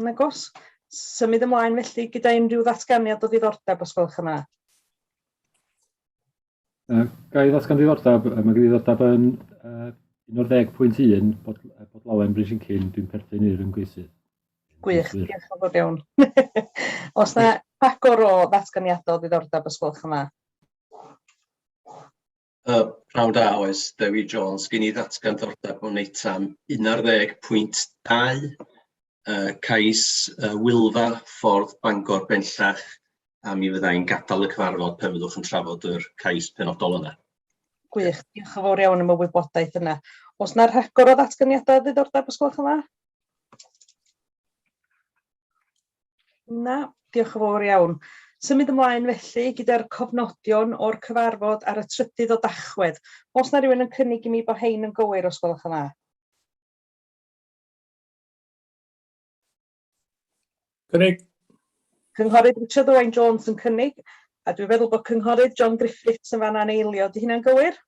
Yn agos. Symud ymlaen felly gyda unrhyw ddatganiad o ddiddordeb os gwelwch yn dda. Uh, ga i ddatgan ddiddordeb, mae gen i ddiddordeb yn uh, 11.1 bod, bod lawen brys yn cyn, dwi'n perthyn i'r ymgeisydd. Gwych, diolch yn fawr iawn. os na agor o ddatganiadau o ddiddordeb os gwelwch yn dda. Yy pnawn da oes, Dewi Jones. Gen i ddatgan dordeb o Neutan, 11.2 yy cais yy Wylfa, Ffordd Bangor bellach, a mi fydda i'n gadael y cyfarfod pe fyddwch yn trafod yr cais penodol yna. Gwych, diolch yn fawr iawn am y wybodaeth yna. Os na rhagor o ddatganiadau ddiddordeb, os gwelwch yn dda? Na, diolch yn fawr iawn. Symud ymlaen felly gyda'r cofnodion o'r cyfarfod ar y trydydd o Dachwedd. Os na rhywun yn cynnig i mi bod hein yn gywir os gwelwch yn dda. Cynnig. Cynghorydd Richard Owen Jones yn cynnig, a dwi'n feddwl bod Cynghorydd John Griffiths yn fan'na yn eilio. Di hynna'n gywir?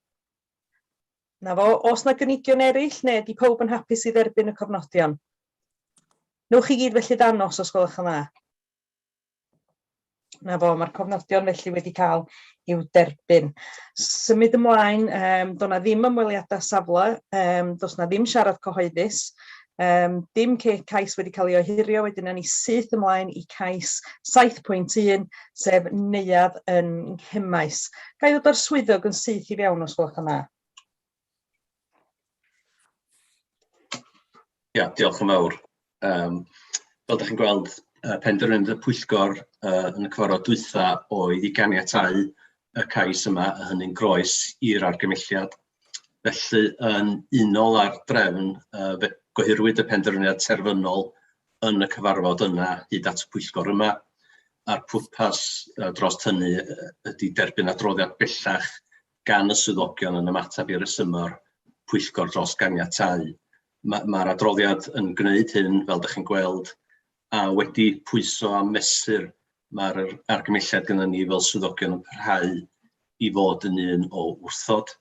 'Na fo, oes 'na gynigion eraill neu ydy pawb yn hapus i dderbyn y cofnodion? Newch chi gyd felly ddangos os gwelwch yn dda? 'Na fo, mae'r cofnodion felly wedi cael i'w derbyn. Symud ymlaen, um, do' 'na ddim ymweliadau safle, um, does 'na ddim siarad cyhoeddus, Um, dim cais wedi cael ei ohirio, wedyn ni syth ymlaen i cais 7.1, sef neuadd yn nghymais. Gai ddod o'r swyddog yn syth i fewn os gwelwch yn dda? Ia, diolch yn fawr. Um, fel ydych chi'n gweld, uh, penderfyniad y pwyllgor uh, yn y cyfarfod dwytha oedd i ganiatau y cais yma, a hynny'n groes i'r argymelliad felly yn unol â'r drefn, yy fe gyhwyrwyd y penderfyniad terfynol yn y cyfarfod yna hyd at y pwyllgor yma, a'r pwrpas yy dros hynny yy ydy derbyn adroddiad bellach gan y swyddogion yn ymateb i resyma'r pwyllgor dros ganiatáu. Ma' ma'r adroddiad yn gwneud hyn, fel dach chi'n gweld, a wedi pwyso a mesur, mae'r argymelliad gyda ni fel swyddogion yn parhau i fod yn un o wrthod,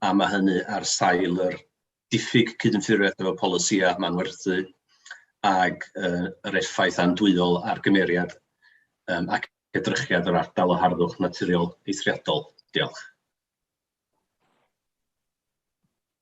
a mae hynny ar sail yr diffyg cydymffurfiaeth efo polisïau manwerthu ac uh, yr effaith andwyol ar gymeriad um, ac edrychiad yr ardal o harddwch naturiol eithriadol. Diolch.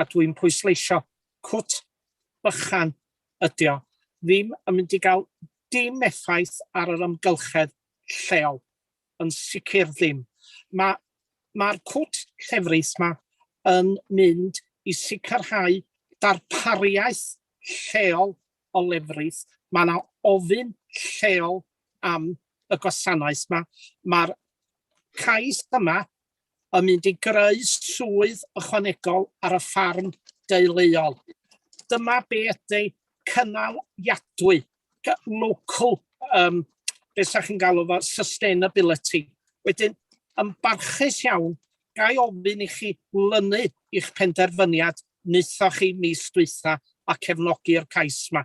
a dwi'n pwysleisio, cwt bychan ydi o, ddim yn mynd i gael dim effaith ar yr amgylchedd lleol, yn sicr ddim. Mae'r ma cwt llefrith yma yn mynd i sicrhau darpariaeth lleol o lefrith. Mae yna ofyn lleol am y gwasanaeth yma. Mae'r cais yma yn mynd i greu swydd ychwanegol ar y ffarm deuluol. Dyma be ydy cynaliadwy, local, um, beth sa'ch chi'n galw fo, sustainability. Wedyn, yn barchus iawn, gai ofyn i chi lynu i'ch penderfyniad wnaethoch chi mis dwytha a cefnogi'r cais yma.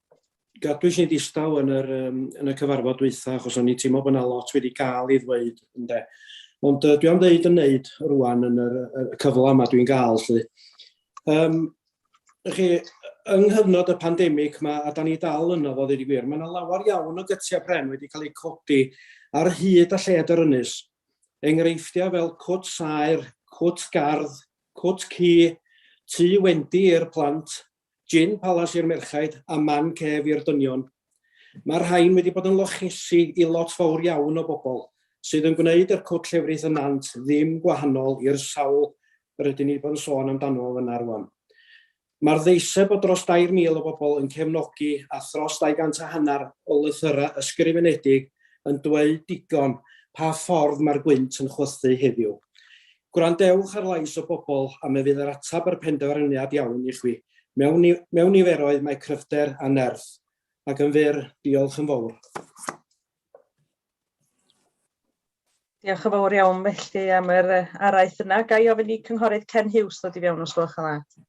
gadwys ni ddistaw yn yr, um, yn y cyfarfod dwytha, achos o'n i'n teimlo bod yna lot wedi gael ei ddweud, ynde. Ond uh, dwi am ddeud yn neud rwan yn yr, y cyfle yma dwi'n gael, lle. Um, chi, yng nghyfnod y pandemig yma, a da ni dal yno fo ddweud i gwir, mae yna lawer iawn o gytiau pren wedi cael eu codi ar hyd a lled yr ynys. Enghreifftiau fel cwt saer, cwt gardd, cwt cu, tu wendi i'r plant, Gin palas i'r merchaid a man cef i'r dynion. Mae'r rhain wedi bod yn lochesi i lot fawr iawn o bobl, sydd yn gwneud yr cwt llefrith yn nant ddim gwahanol i'r sawl rydyn ni wedi bod yn sôn amdano fo fyna rwan. Mae'r ddeiseb o dros 2,000 o bobl yn cefnogi a thros 200 a hanner o lythyrau ysgrifenedig yn dweud digon pa ffordd mae'r gwynt yn chwythu heddiw. Gwrandewch ar lais y bobl a mi fydd yr ateb a'r penderfyniad iawn i chwi. Mewn, mewn niferoedd mae cryfder a nerth. Ac yn fyr, diolch yn fawr. Diolch yn fawr iawn felly am yr araith yna. Ga i ofyn i Cynghorydd Ken Hughes ddod i fewn os gwelwch yn dda?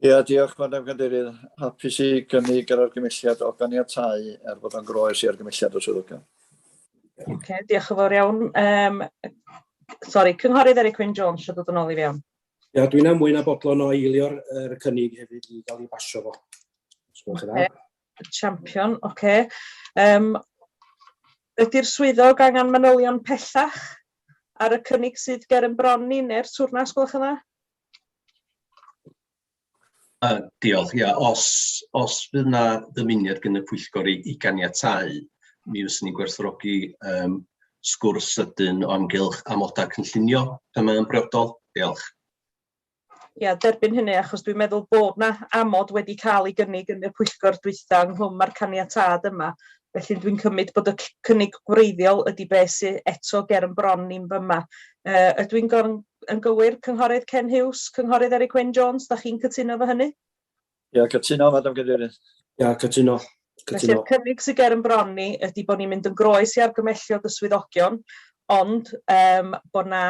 Ia, diolch, Madam Cadeirydd. Hapus i gynnig yr argymelliad o ganiatáu er bod o'n groes i argymelliad y swyddogion. Ocê, diolch yn fawr iawn. Um, sori, Cynghorydd Eric Wyn Jones eisiau dod yn ôl i fewn. Ia, dwi'n amwyn a bodlon o eilio'r er cynnig hefyd i gael ei basio fo. Os gwelwch yn dda. Champion, oce. Okay. Um, ydy'r swyddog angen manylion pellach ar y cynnig sydd ger yn bron ni neu'r twrnas, gwelwch yna? Yy diolch, ia, os os fydd 'na ddymuniad gan y pwyllgor i i ganiatáu, mi fyswn i'n gwerthfawrogi yym sgwrs sydyn o amgylch amodau cynllunio pan mae o'n briodol. Diolch. Ia, derbyn hynny, achos dwi'n meddwl bod 'na amod wedi cael ei gynnig yn y pwyllgor dwytha ynghlwm â'r caniatâd yma, Felly dwi'n cymryd bod y c- cynnig gwreiddiol ydy be sy eto ger yn bron ni'n fyma. Yy ydw i'n gor- yn gywir, Cynghorydd Ken Hughes, Cynghorydd Eryk Wyn Jones, da chi'n cytuno efo hynny? Ia, cytuno, Madam Cadeirydd. Ia, cytuno. Felly'r Cytuno. cynnig sy ger yn bron ni ydy bod ni'n mynd yn groes i argymelliad y swyddogion, ond yym bod 'na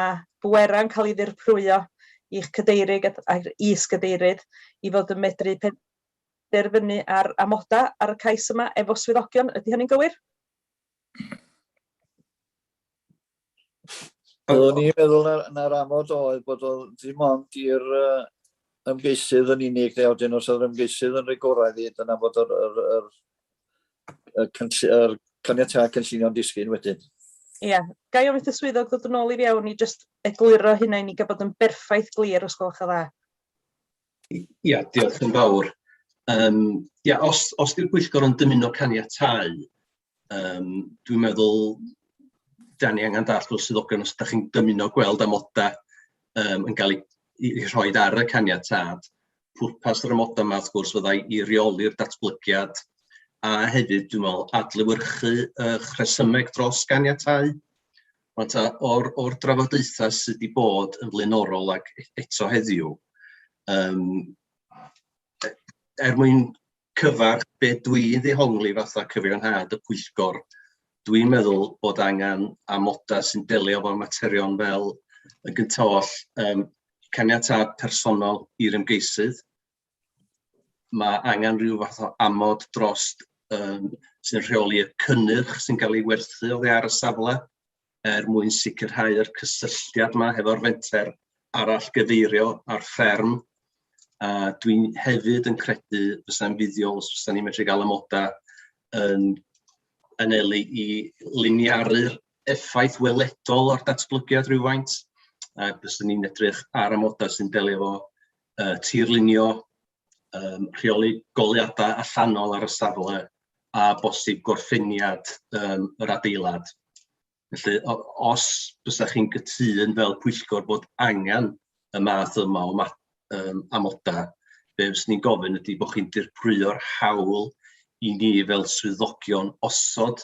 bwerau'n cael ei ddirprwyo i'ch cadeiryg at- a'r is-gadeirydd i fod yn medru pen- derfynu ar amoda ar y cais yma efo swyddogion, ydy hynny'n gywir? Oeddwn i'n meddwl na, na'r amod oedd bod o ddim ond i'r uh, ymgeisydd yn unig, neu wedyn os oedd ymgeisydd yn rigoraidd i, dyna bod yr, yr, yr, yr, yr, yr caniatau cynllunio'n disgyn wedyn. Ie, yeah. gai ofyn y swyddog ddod yn ôl i fewn i just egluro hynna i ni gael bod yn berffaith glir os gwelwch yn dda. Ia, diolch yn fawr. Yym ia, os os 'di'r pwyllgor yn dymuno caniatáu, yym dwi'n meddwl dan ni angen dallt fel swyddogion os dach chi'n dymuno gweld amodau yym yn cael eu rhoi ar y caniatâd, pwrpas yr amodau 'ma wrth gwrs fydda i reoli'r datblygiad a hefyd dwi'n meddwl adlewyrchu eich rhesymeg dros ganiatáu. Rŵan ta, o'r o'r drafodaethau sydd wedi bod yn flaenorol ac e- eto heddiw, yym e- er mwyn cyfarch be dwi'n ddehongli fatha cyfiawnhad y pwyllgor, dwi'n meddwl bod angen amodau sy'n delio efo'r materion fel yn gyntaf oll, yym caniatâd personol i'r ymgeisydd, mae angen rhyw fath o amod dros um, sy'n rheoli y cynnyrch sy'n cael ei werthu oddi ar y safle er mwyn sicrhau yr cysylltiad yma hefo'r fenter arall gyfeirio ar fferm. A dwi'n hefyd yn credu fysa'n fuddiol os fysa'n ni'n medru gael amodau yn anelu i liniaru'r effaith weledol o'r datblygiad rhywfaint. A bysa'n ni'n edrych ar amodau sy'n delio efo uh, tirlunio, um, rheoli goliadau allanol ar y safle a bosib gorffeniad um, yr adeilad. Felly, os byddwch chi'n gytun fel pwyllgor bod angen y math yma o ma um, amodau, be fes ni'n gofyn ydy bod chi'n dirprwyo'r hawl i ni fel swyddogion osod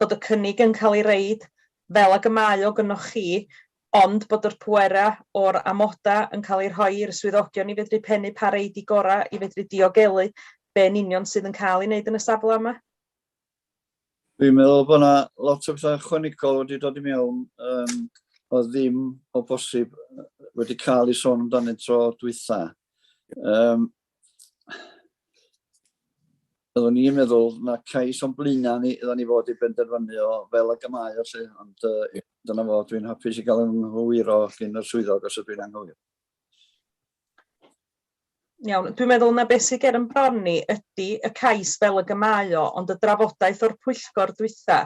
bod y cynnig yn cael ei roid fel ag y mae o gynnoch chi, ond bod yr pwerau o'r amodau yn cael eu rhoi i'r swyddogion i fedru pennu pa rei 'di gorau i fedru diogelu be yn union sydd yn cael ei wneud yn y safle yma. Dwi'n meddwl bod yna lot o bethau ychwanegol wedi dod i mewn um, oedd ddim o bosib wedi cael ei sôn amdanynt tro dwytha. Um, Oeddwn ni'n meddwl na cais o'n blaena ni oeddwn ni fod i benderfynu o fel y gymau o lle, ond uh, dyna fo, dwi'n hapus i gael yn hwyr o gyn y swyddog os ydw i'n anghywir. Iawn, dwi'n meddwl na beth sy'n ger yn bron ni ydy y cais fel y gymau o, ond y drafodaeth o'r pwyllgor dwytha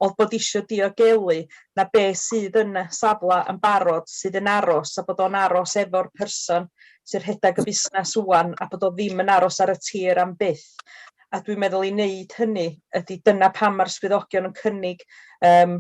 oedd bod eisiau diogelu na beth sydd yn y safle yn barod sydd yn aros a bod o'n aros efo'r person sy'n rhedeg y busnes ŵan a bod o ddim yn aros ar y tir am byth. A dwi'n meddwl i wneud hynny ydy dyna pam mae'r swyddogion yn cynnig um,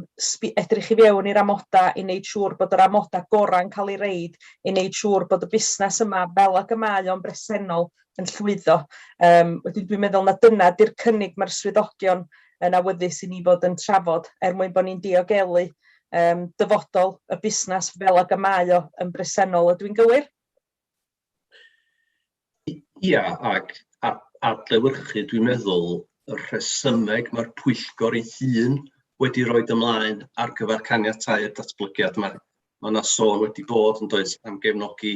edrych i fewn i'r amodau i wneud siŵr bod yr amodau gorau'n cael ei reid, i wneud siŵr bod y busnes yma fel ag y mae o'n bresennol yn llwyddo. Um, wedyn dwi'n meddwl na dyna di'r cynnig mae'r swyddogion yn awyddus i ni fod yn trafod er mwyn bod ni'n diogelu yym dyfodol y busnas fel ag y mae o yn bresennol, ydw i'n gywir? Ia, ac adlewyrchu dwi'n meddwl y rhesymeg mae'r pwyllgor ei hun wedi rhoi ymlaen ar gyfer caniatau'r datblygiad yma. Mae yna sôn wedi bod yn does am gefnogi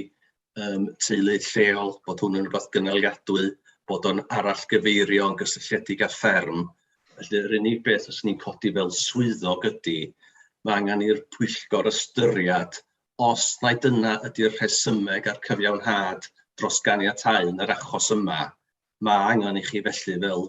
yym teulu lleol, bod hwn yn rwbath gynaliadwy, bod o'n arallgyfeirio yn gysylltiedig â fferm. Felly yr unig beth fyswn i'n codi fel swyddog ydy, mae angen i'r pwyllgor ystyried os mai dyna ydy'r rhesymeg a'r cyfiawnhad dros ganiatáu yn yr achos yma, mae angen i chi felly fel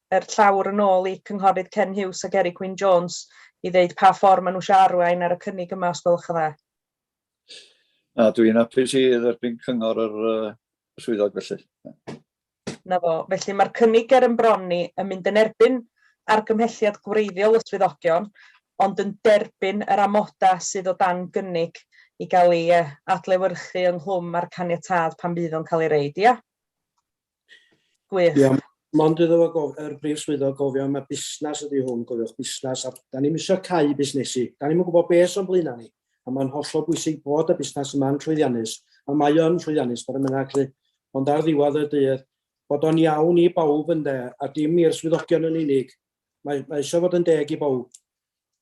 er llawr yn ôl i Cynghorydd Ken Huws ac Eric Wyn Jones i ddeud pa ffordd maen nhw eisiau arwain ar y cynnig yma, os gwelwch yn dda. Na, dwi'n hapus i dderbyn cyngor yr swyddog felly. Na fo, felly mae'r cynnig ger yn bron ni yn mynd yn erbyn argymhelliad gwreiddiol y swyddogion, ond yn derbyn yr amodau sydd o dan gynnig i gael ei adlewyrchu ynghlwm â'r caniatâd pan fydd o'n cael ei roid, ia? Gwych. Ia, mond iddo fo gof- yr brif swyddog gofio am y busnes ydy hwn, gofiwch busnes, a da ni'n misio cau busnesu. Da ni'n gwybod beth o'n blaenau ni, a mae'n hollol bwysig bod y busnes yma'n llwyddiannus, a mae o'n llwyddiannus, bod yn mynnag lle. Ond ar ddiwedd y dydd, bod o'n iawn i bawb ynde, a dim i'r swyddogion yn unig. Mae, mae eisiau fod yn deg i bawb.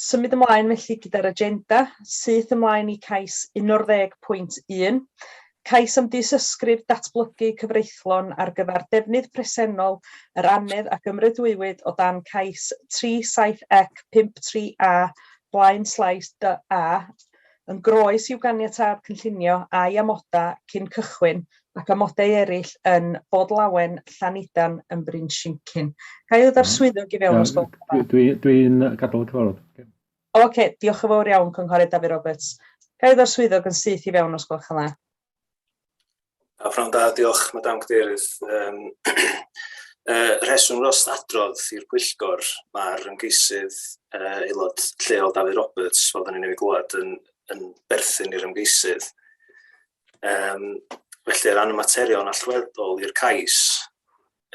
Symud ymlaen felly gyda'r agenda, syth ymlaen i cais 11.1, cais am dystysgrif datblygu cyfreithlon ar gyfer defnydd presennol yr annedd a gymrydwywyd o dan cais 37 ec 53 a Blaen Slais DA yn groes i'w ganiatâd cynllunio a'i amodau cyn cychwyn ac amodau eraill yn Bodlawen, Llanidan, yn Bryn Shincin. Ga i ddod swyddog i fewn os gwelwch yn dda? Dwi'n dwi gadael y cyfarfod. Okay. OK, diolch yn fawr iawn, Cynghorydd Dafydd Roberts. Ga i ddod swyddog yn syth i fewn os gwelwch yn dda? A prawn da, diolch, Madame Cadeirydd. Um, uh, rheswm dros adrodd i'r pwyllgor, mae'r ymgeisydd uh, aelod lleol Dafydd Roberts, fel dyn ni'n ei glwad, yn, yn berthyn i'r ymgeisydd. Um, felly, ran y materion allweddol i'r cais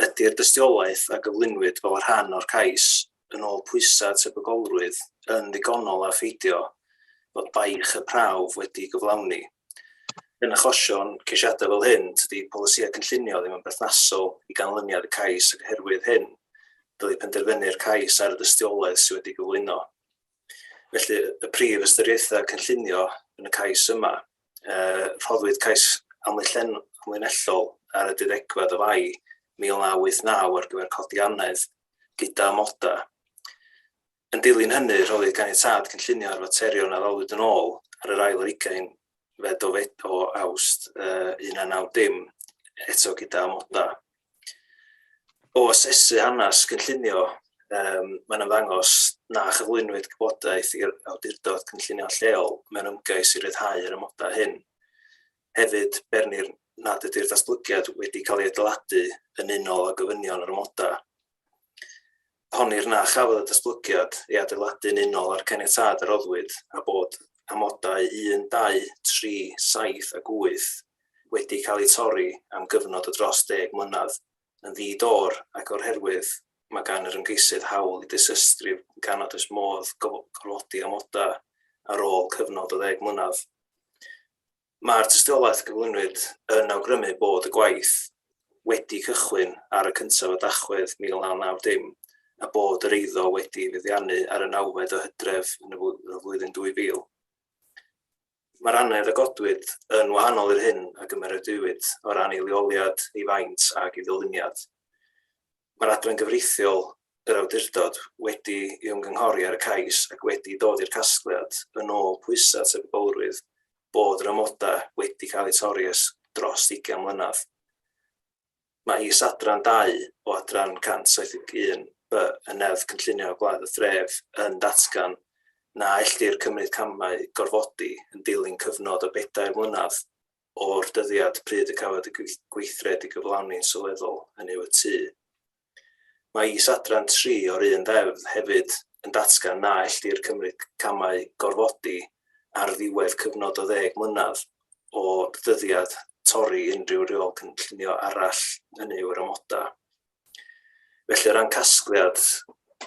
ydy'r dystiolaeth a gyflwynwyd fel rhan o'r cais yn ôl pwysau tebygolrwydd yn ddigonol a pheidio bod baich y prawf wedi gyflawni. Yn achosion ceisiadau fel hyn, tydi polisïau cynllunio ddim yn berthnasol i ganlyniad y cais ac oherwydd hyn, dylai penderfynu'r cais ar y dystiolaeth sydd wedi gyflwyno. Felly, y prif ystyriaethau cynllunio yn y cais yma, uh, rhoddwyd cais amlinellol ar y dudegfed o fai 1989 ar gyfer codi anedd gyda amodau. Yn dilyn hynny, rhoddwyd ganiatad cynllunio ar faterion a ddalwyd yn ôl ar yr ail ar ugain fel dofed o awst uh, 1990 eto gyda amoda. O asesu hanes cynllunio, um, mae'n ymddangos na chyflwynwyd gwybodaeth i'r awdurdod cynllunio lleol mewn ymgais i ryddhau yr amodau hyn. Hefyd, bernir nad ydy'r datblygiad wedi cael ei adeiladu yn unol â gofynion yr amodau. Honnir na chafodd y datblygiad ei adeiladu'n unol â'r caniatâd a roddwyd a bod amodau 1, 2, 3, 7 ac 8 wedi cael eu torri am gyfnod o dros deg mlynedd yn ddi-dor ac o'r herwydd mae gan yr ymgeisydd hawl i ddisystri gan nad oes modd gorfodi amodau ar ôl cyfnod o ddeg mlynedd. Mae'r tystiolaeth gyflwynwyd yn awgrymu bod y gwaith wedi cychwyn ar y cyntaf o Dachwedd 1990 a bod yr eiddo wedi feddiannu ar y nawfed o Hydref yn y flwyddyn 2000. Mae'r annedd a godwyd yn wahanol i'r hyn a gymeradwywyd o ran ei leoliad, ei faint ac ei ddyluniad. Mae'r Adran Gyfreithiol yr Awdurdod wedi ei ymgynghori ar y cais ac wedi dod i'r casgliad, yn ôl pwysau tebygrwydd, bod yr amodau wedi cael eu torri ers dros ugain mlynedd. Mae is-adran 2 o Adran 171 B y Neddf Cynllunio Gwlad a Thref yn datgan na ellir cymryd camau gorfodi yn dilyn cyfnod o bedair mlynedd o'r dyddiad pryd y cafwyd y gweithred i gyflawni'n sylweddol, hynny yw y tŷ. Mae is-adran 3 o'r un ddeddf hefyd yn datgan na ellir cymryd camau gorfodi ar ddiwedd cyfnod o ddeg mlynedd o ddyddiad torri unrhyw reol cynllunio arall, hynny yw'r amodau. Felly, o ran casgliad,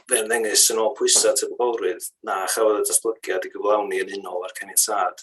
fe ymddengys yn ôl pwysau tebygolrwydd na chafodd y datblygiad i gyflawni yn unol â'r caniatâd.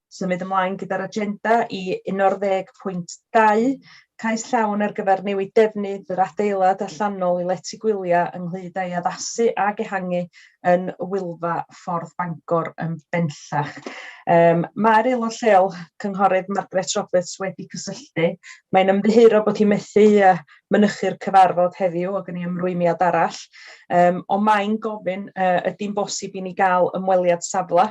symud ymlaen gyda'r agenda i 12.2, cais llawn ar gyfer newid defnydd yr adeilad allanol i lety gwyliau ynghyd â'i addasu ag ehangu yn Wylfa Ffordd Bangor yn bennllach. Um, Mae'r aelod lleol, Cynghorydd Margaret Roberts, wedi cysylltu. Mae'n ymddiheuro bod hi methu uh, mynychu'r cyfarfod heddiw o gynnu ymrwymiad arall, um, ond mae'n gofyn uh, ydy'n bosib i ni gael ymweliad safle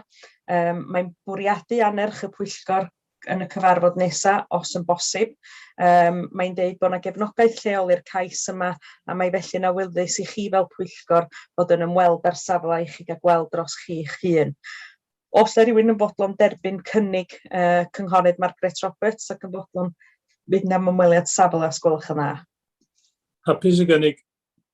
Um, mae'n bwriadu anerch y pwyllgor yn y cyfarfod nesaf, os yn bosib. Um, mae'n dweud bod yna gefnogaeth lleol i'r cais yma a mae felly'n awyddus i chi fel pwyllgor fod yn ymweld â'r safle i chi gael gweld dros chi'ch hun. Os ydy rhywun yn fodlon derbyn cynnig uh, cynghorydd Margaret Roberts ac yn fodlon fydd yna ymweliad safle os gwelwch yn dda. Hapus i gynnig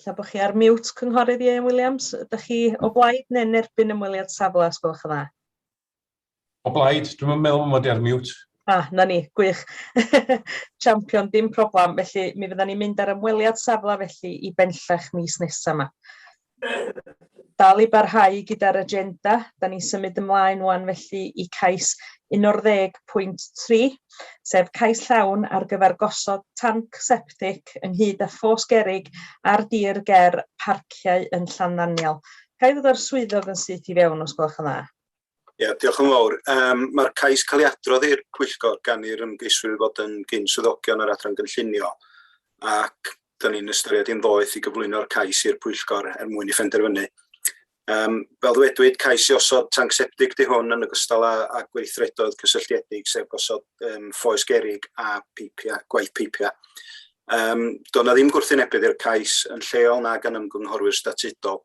Ella bod chi ar mute, Cynghorydd Ieuan Williams. Ydych chi o blaid neu yn erbyn ymweliad safle, os gwelwch yn dda? O blaid, dwi'n meddwl mod i ar mute. A, ah, na ni, gwych. Champion, dim problem. Felly, mi fydda ni'n mynd ar ymweliad safle felly i benllech mis nesaf yma. dal i barhau gyda'r agenda. Da ni'n symud ymlaen wan felly i cais 11.3, sef cais llawn ar gyfer gosod tanc septic ynghyd â ffos gerig ar dir ger parciau yn Llanddaniel. Ga i ddod â'r swyddog yn syth i fewn os gwelwch yn dda? Ia, diolch yn fawr. Yym, mae'r cais cael ei adrodd i'r pwyllgor gan i'r ymgeiswyr fod yn gyn-swyddogion yr Adran Gynllunio, ac dyn ni'n ystyried hi'n ddoeth i gyflwyno'r cais i'r pwyllgor er mwyn i phenderfynu. Um, fel ddwedwyd, cais i osod tanc septig di hwn yn ogystal â, â gweithredoedd cysylltiedig sef gosod um, ffoes gerig a peipiau, gwaith peipiau. Um, Doedd na ddim gwrthwynebydd i'r cais yn lleol na gan ymgynghorwyr statudol.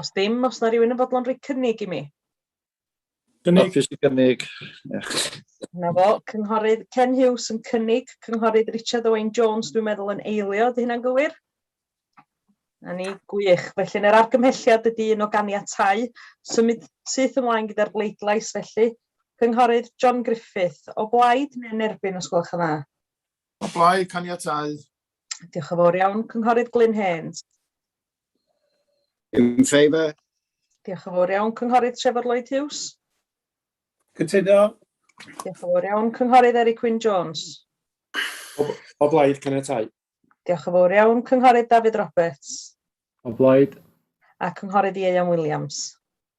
Os dim, os na rhywun yn fodlon rhoi cynnig i mi. Cynnig. Office i gynnig. Na fo, cynghorydd Ken Hughes yn cynnig, cynghorydd Richard Owen Jones dwi'n meddwl yn eilio, ydy hynna'n gywir? A ni, gwych. Felly, yr argymhelliad ydy un o ganiatau. Symud syth ymlaen gyda'r bleidlais, felly. Cynghorydd John Griffith, o blaid neu'n erbyn, os gwelwch yn dda? O blaid, caniatau. Diolch yn fawr iawn, Cynghorydd Glyn Haynes. In favour. Diolch yn fawr iawn, Cynghorydd Trevor Lloyd Hughes. Cytuno. Diolch yn fawr iawn, Cynghorydd Eric Wyn Jones. O, o blaid, caniatau. Diolch yn fawr iawn, Cynghorydd David Roberts. O blaid. A Cynghorydd Ieuan Williams.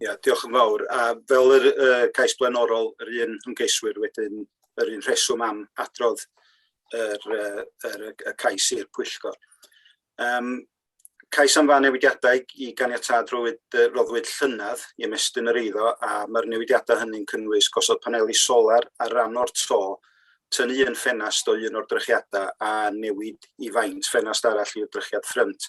Ia, diolch yn fawr. A fel yr uh, cais blaenorol, yr un ymgeiswyr wedyn, yr un rheswm am adrodd yr, uh, yr, y cais i'r pwyllgor. Um, cais am fan newidiadau i ganiatad roddwyd, uh, roddwyd llynedd i ymestyn yr eiddo a mae'r newidiadau hynny'n cynnwys gosod paneli solar ar ran o'r to, tynnu yn ffenast o un o'r drychiadau a newid i faint ffenast arall i'r drychiad ffrynt.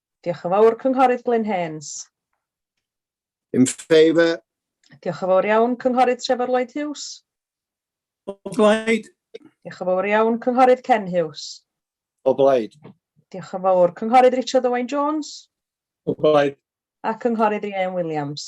Diolch yn fawr, Cynghorydd Glyn Haines. In favour. Diolch yn fawr iawn, Cynghorydd Trevor Lloyd Hughes. O blaid. Diolch yn fawr iawn, Cynghorydd Ken Hughes. O blaid. Diolch yn fawr, Cynghorydd Richard Owain Jones. O blaid. A Cynghorydd Ieuan Williams.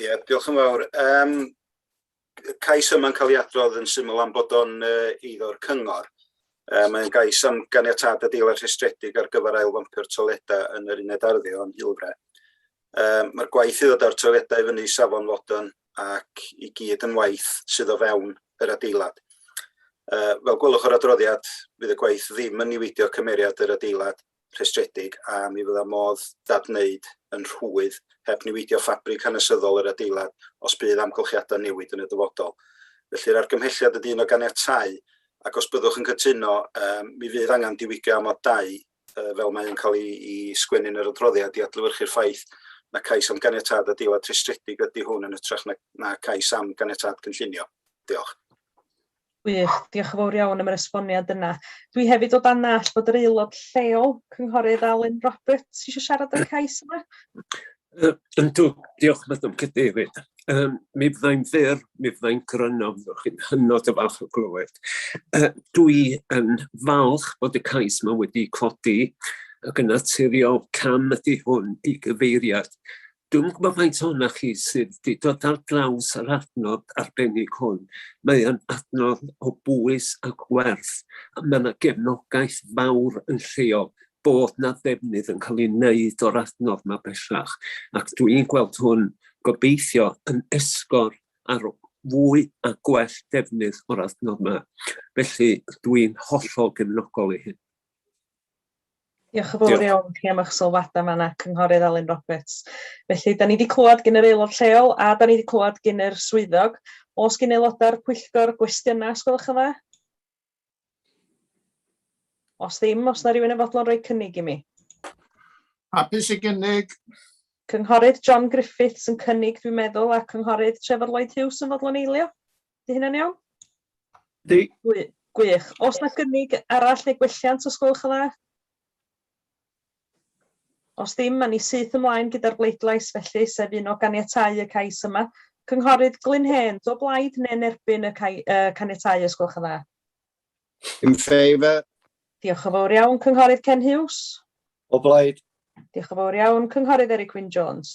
Ie, diolch yn fawr. Um, y cais yma'n cael ei adrodd yn syml am bod o'n uh, eiddo'r cyngor. Uh, mae'n gais am ganiatad adeilad rhestredig ar gyfer ail wampio'r toiledau yn yr uned arddio yn Hilfre. Uh, Mae'r gwaith i ddod â'r toiledau fyny safon fodern ac i gyd yn waith sydd o fewn yr adeilad. Uh, fel gwelwch o'r adroddiad, fydd y gwaith ddim yn niweidio cymeriad yr adeilad rhestredig a mi fydda modd dadwneud yn rhwydd heb niweidio ffabrig hanesyddol yr adeilad os bydd amgylchiadau'n newid yn y dyfodol. Felly'r argymhelliad ydy un o ganiatau ac os byddwch yn cytuno um, mi fydd angen diwygio amod 2 uh, fel mae'n cael ei, ei sgwennu'n yr adroddiad i adlywyrchu'r ffaith na cais am ganiatad a deilad rhestredig ydy hwn yn ytrach na, na cais am ganiatad cynllunio. Diolch. Gwych, diolch yn fawr iawn am yr esboniad yna. Dwi hefyd o dan nall bod yr aelod lleol, Cynghorydd Alun Roberts, eisiau siarad o'r cais yma. Uh, yndw, diolch Madam Cadeirydd. Um, mi fyddai'n fyr, mi fyddai'n gryno, fyddwch chi'n hynod o falch o glywed. Uh, dwi yn falch bod y cais yma wedi codi ac yn naturiol cam ydy hwn i gyfeiriad Dwi'm yn gwybod faint ohonoch chi sydd 'di dod ar draws yr adnodd arbennig hwn. Mae o'n adnodd o bwys ac werth, a mae 'na gefnogaeth fawr yn lleol bod 'na ddefnydd yn cael ei wneud o'r adnodd 'ma bellach, ac dwi'n gweld hwn, gobeithio, yn esgor ar fwy a gwell defnydd o'r adnodd 'ma. Felly, dwi'n hollol gefnogol ei hun. Diolch yn fawr iawn chi am eich sylwadau yma yna, Cynghorydd Alun Roberts. Felly, da ni wedi clywed gen yr aelod lleol a da ni wedi clywed gen yr swyddog. Os gen aelodau'r pwyllgor gwestiynau, os gwelwch yn dda? Os ddim, os na rhywun yn fodlon rhoi cynnig i mi. Hapus i gynnig. Cynghorydd John Griffiths yn cynnig, dwi'n meddwl, a Cynghorydd Trevor Lloyd Hughes yn fodlon eilio. Di hynna'n iawn? Di. Gwych. Os na gynnig arall neu gwelliant, os gwelwch yn dda? Os ddim, mae ni syth ymlaen gyda'r bleidlais felly, sef un o ganiatau y cais yma. Cynghorydd Glyn Hen, do blaid neu'n erbyn y cai, uh, caniatau os gwelwch yn dda? In favour. Diolch yn fawr iawn, Cynghorydd Ken Hughes. O blaid. Diolch yn fawr iawn, Cynghorydd Eric Wyn Jones.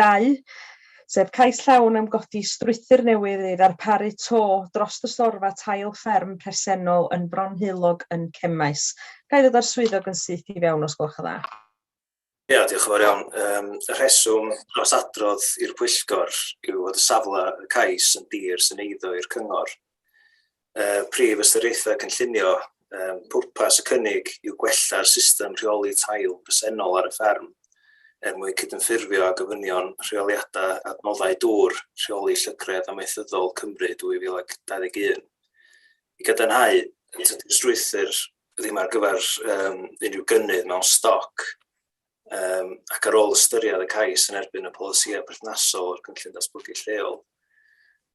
Dau, sef cais llawn am godi strwythur newydd i ddarparu to dros y storfa tail fferm presennol yn Fronheulog yn Cemaes. Ga i ddod â'r swyddog yn syth i fewn os gwelwch yn dda? Ia, diolch yn fawr iawn. Um, y rheswm dros adrodd i'r pwyllgor yw fod y safle y cais yn dir sy'n eiddo i'r cyngor. uh, prif ystyriaethau cynllunio, um, pwrpas y cynnig yw gwella'r system rheoli tail presennol ar y fferm er mwyn cydymffurfio â gofynion rheoliadau adnoddau dŵr rheoli llygredd amaethyddol Cymru 2021. I gadarnhau, tydi'r strwythyr ddim ar gyfer um, unrhyw gynnydd mewn stoc um, ac ar ôl ystyried y cais yn erbyn y polisïau perthnasol o'r cynllun datblygu lleol,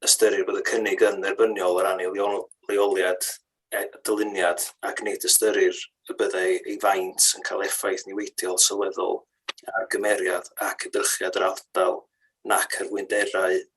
ystyrir bod y cynnig yn dderbyniol o ran ei leoliad, e, dyluniad ac nid ystyrir y byddai ei faint yn cael effaith niweidiol sylweddol ar gymeriad ac edrychiad yr ardal nac ar fwynderau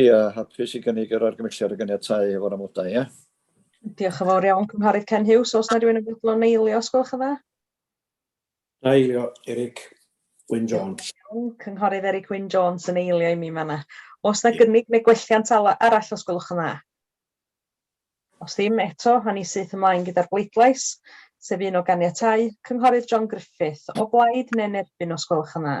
Ia, hapus i gynnig yr argymhelliad a ganiatáu hefo'r amodau, ia? Diolch yn fawr iawn, Cynghorydd Ken Hughes. Os na rhywun yn fodlon eilio, os gwelwch yn dda? Na eilio, Eric Wyn Jones. Cynghorydd Eric Wyn Jones yn eilio i mi yn fanna. Os na gynnig neu gwelliant arall, os gwelwch yn dda? Os ddim, eto, a ni syth ymlaen gyda'r bleidlais, sef un o ganiatáu, Cynghorydd John Griffith, o blaid neu'n erbyn, os gwelwch yn dda?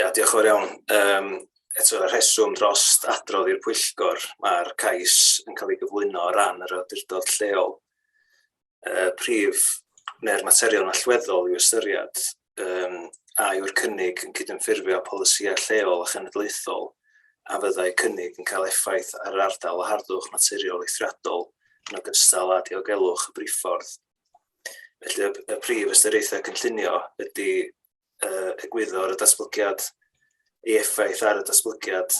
Ia, diolch yn fawr iawn. Yym, eto y rheswm dros adrodd i'r pwyllgor, mae'r cais yn cael ei gyflwyno o ran yr awdurdod lleol. Y prif neu'r materion allweddol i'w ystyried um, a yw'r cynnig yn cydymffurfio polisïau lleol a chenedlaethol a fyddai cynnig yn cael effaith ar yr ardal o harddwch naturiol eithriadol yn ogystal â diogelwch y briffordd. Felly y, y prif ystyriaethau cynllunio ydy uh, egwyddor y datblygiad, ei effaith ar y datblygiad,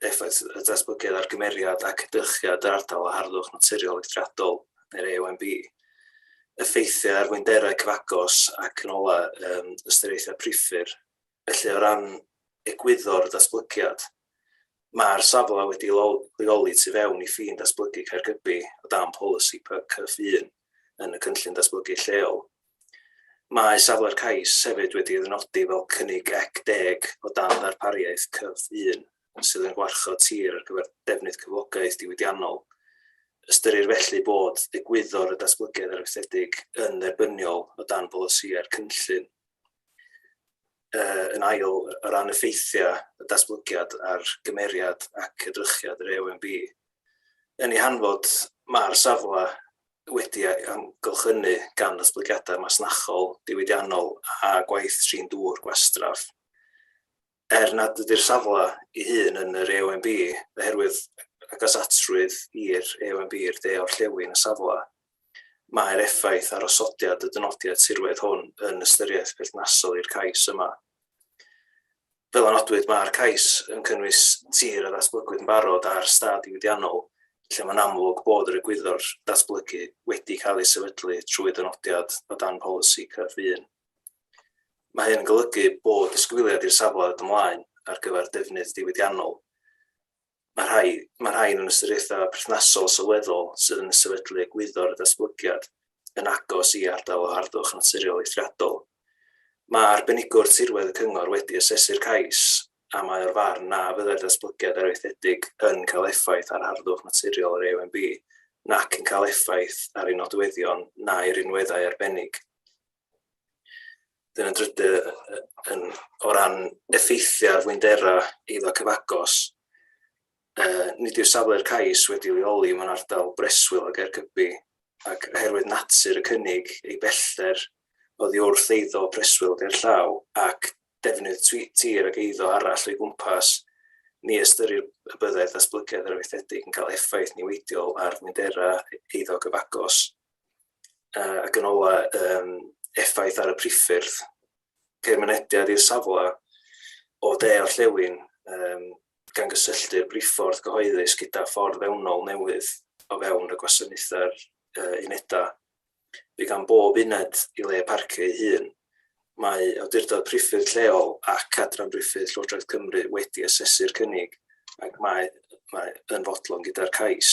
effaith y datblygiad ar gymeriad ac edrychiad yr ardal o harddwch naturiol eithriadol neu'r AOMB, effeithiau ar fwynderau cyfagos ac yn ola um, ystyriaethau priffur. Felly o ran egwyddor y datblygiad, mae'r safle wedi leoli tu fewn i ffin datblygu Caergybi o dan polisi PCF1 yn y cynllun datblygu lleol Mae safle'r cais hefyd wedi ei ddynodi fel cynnig ec deg o dan ddarpariaeth cyf un, sydd yn gwarchod tir ar gyfer defnydd cyflogaeth diwydiannol. Ystyrir felly bod egwyddor y datblygiad arfaethedig yn dderbyniol o dan bolisïau'r cynllun. Yn ail, o ran effeithiau y datblygiad ar gymeriad ac edrychiad yr AONB, yn ei hanfod, mae'r safle wedi ei amgylchynu gan ddatblygiadau masnachol diwydiannol a gwaith trin dŵr gwastraff. Er nad ydy'r safle ei hun yn yr AONB, oherwydd agosatrwydd i'r AONB i'r de-orllewin y safle, mae'r effaith ar osodiad y dynodiad tirwedd hwn yn ystyriaeth berthnasol i'r cais yma. Fel a nodwyd, mae'r cais yn cynnwys tir a ddatblygwyd yn barod ar stad diwydiannol lle mae'n amlwg bod yr egwyddor datblygu wedi cael ei sefydlu trwy ddynodiad o dan polisi cyf un. Mae hyn yn golygu bod disgwyliad i'r safle ymlaen ar gyfer defnydd diwydiannol Mae rhai, mae rhai yn ystyriaethau perthnasol sylweddol sydd yn sefydlu egwyddor y datblygiad yn agos i ardal o harddwch naturiol eithriadol. Mae arbenigwr tirwedd y cyngor wedi asesu'r cais a mae o'r farn na fyddai'r datblygiad arfaethedig yn cael effaith ar harddwch naturiol yr AONB nac yn cael effaith ar ei nodweddion na'i rinweddau arbennig. Dyna yn drydydd, yn, o ran effeithiau ar fwynderau eiddo cyfagos, uh, nid yw'r safle'r cais wedi leoli mewn ardal breswyl o Gaergybi, ac oherwydd natur y cynnig ei bellter oddi wrth eiddo preswyl ger llaw ac defnydd tir ac eiddo arall o'i gwmpas, ni ystyrir y byddai'r ddatblygiad arfaethedig yn cael effaith niweidiol ar fwynderau eiddo gyfagos. ac yn ola um, effaith ar y priffyrdd, ceir mynediad i'r safle o de o'r llewyn um, gan gysylltu'r briffordd gyhoeddus gyda ffordd fewnol newydd o fewn y gwasanaethau'r uh, unedau. Bydd gan bob uned i le parcio ei hun. Mae awdurdod priffyrdd lleol ac adran briffyrdd Llywodraeth Cymru wedi asesu'r cynnig ac mae, mae yn fodlon gyda'r cais.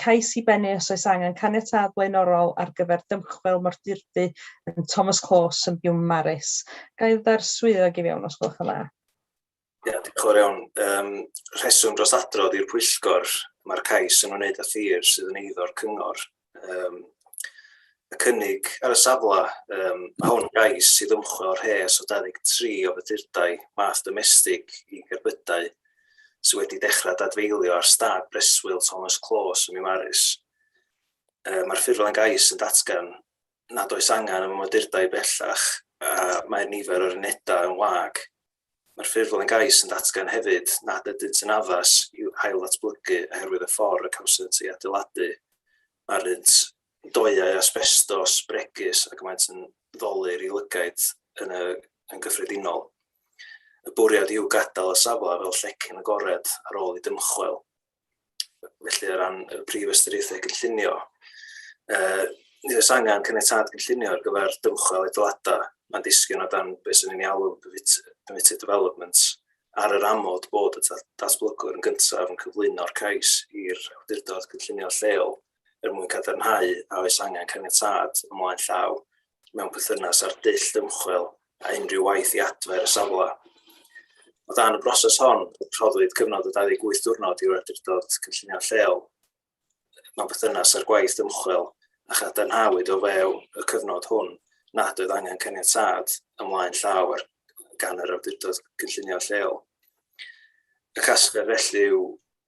cais i bennu os oes angen caniatâd blaenorol ar gyfer dymchwel mordurdy yn Thomas Close yn Biwmaris. Ga i ddod swyddog i fewn os gwelwch yn dda? Ie, yeah, diolch yn iawn. Um, rheswm dros adrodd i'r pwyllgor, mae'r cais yn wneud â thir sydd yn eiddo'r cyngor. Um, y cynnig ar y safle, um, mae hwn gais sydd ymchwil o'r rhes o 23 o fydurdau math domestig i gerbydau sydd wedi dechrau dadfeilio ar stad breswyl Thomas Close ym Mimaris. Uh, Mae'r ffurflen gais yn datgan nad oes angen am ymwydurdai bellach a mae'r nifer o'r unedau yn wag. Mae'r ffurflen gais yn datgan hefyd nad ydynt yn addas i ail ddatblygu oherwydd y ffordd y cawsant ei adeiladu. Mae'r rhynt doeau asbestos, bregus ac maent yn ddolur i lygaid yn, y, yn gyffredinol. Y bwriad yw gadael y safle fel llecyn agored ar ôl i dymchwel. Felly, o ran y prif ystyriaethau cynllunio, uh, nid oes angen caniatad gynllunio ar gyfer dymchwel edladau. Mae'n disgyn o dan beth sy'n ei alw permitted development ar yr amod bod y datblygwr yn gyntaf yn cyflwyno'r cais i'r awdurdod cynllunio lleol er mwyn cadarnhau a oes angen caniatâd ymlaen llaw mewn perthynas â'r dull dymchwel a unrhyw waith i adfer y safle. O dan y broses hon, rhoddwyd cyfnod o 28 diwrnod i'r awdurdod cynllunio lleol mewn perthynas â'r gwaith ymchwil a chadarnhawyd o fewn y cyfnod hwn nad oedd angen caniatâd ymlaen llaw ar gan yr awdurdod cynllunio lleol. Y casgler felly yw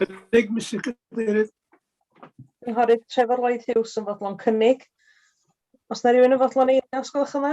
Cynnig, Mr Cadeirydd. Cynghorydd Trevor Lloyd Hughes yn fodlon cynnig. Os na rhywun yn fodlon ei os gwelwch yma.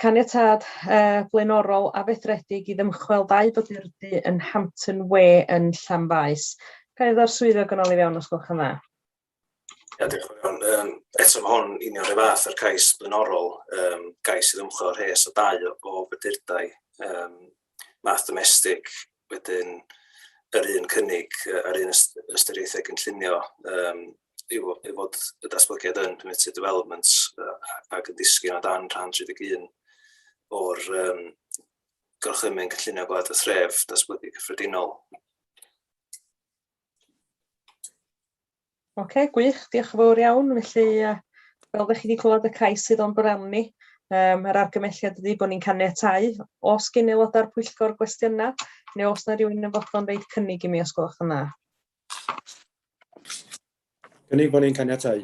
Caniatâd blaenorol a fedredig i ddymchwel ddau bodurdy yn Hampton Way yn Llanfaes. Ga i ddod â'r swyddog yn ôl i fewn os gwelwch yn dda? Ia, diolch yn fawr. Um, eto mae hwn union rhywbeth fath â'r cais blaenorol, um, gais i ddymchwel rhes o dau o, o fydurdai um, math domestig, wedyn yr un cynnig a'r un ystyriaethau gynllunio um, i fod y datblygiad yn permitted development ac yn disgyn o dan rhan 31 o'r um, gorchymyn cynllunio gwlad y thref datblygu cyffredinol. Ok, gwych, diolch yn fawr iawn. Felly, uh, fel ddech chi wedi clywed y cais sydd o'n bwrel ni, um, yr argymelliad ydy bod ni'n caniatau os gyn aelodau'r pwyllgor gwestiynau, neu os na rhywun yn fodlon reid cynnig i mi os gwelwch yn dda. Cynnig bod ni'n caniatau.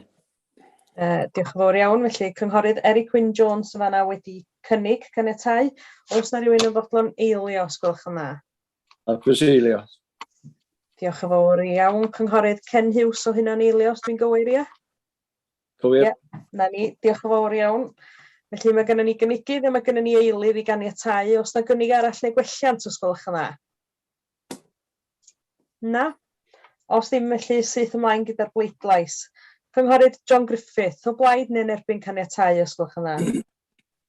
Uh, diolch yn fawr iawn. Felly, cynghorydd Eric Wyn Jones yn fanna wedi cynnig caniatau. Os na rhywun yn fodlon eilio os gwelwch yn dda. A croeso Eilio. Diolch yn fawr iawn, Cynghorydd Ken Hughes o hynna'n eilio, os dwi'n gywir, ie? Cywir. Ie, na ni, diolch yn fawr iawn. Felly mae gennym ni gynigydd a mae gennym ni eilydd i ganiatau. Os na gynnig arall neu gwelliant, os gwelwch yn dda? Na? Os ddim felly, syth ymlaen gyda'r bleidlais. Cynghorydd John Griffith, o blaid neu'n erbyn caniatau, os gwelwch yn dda?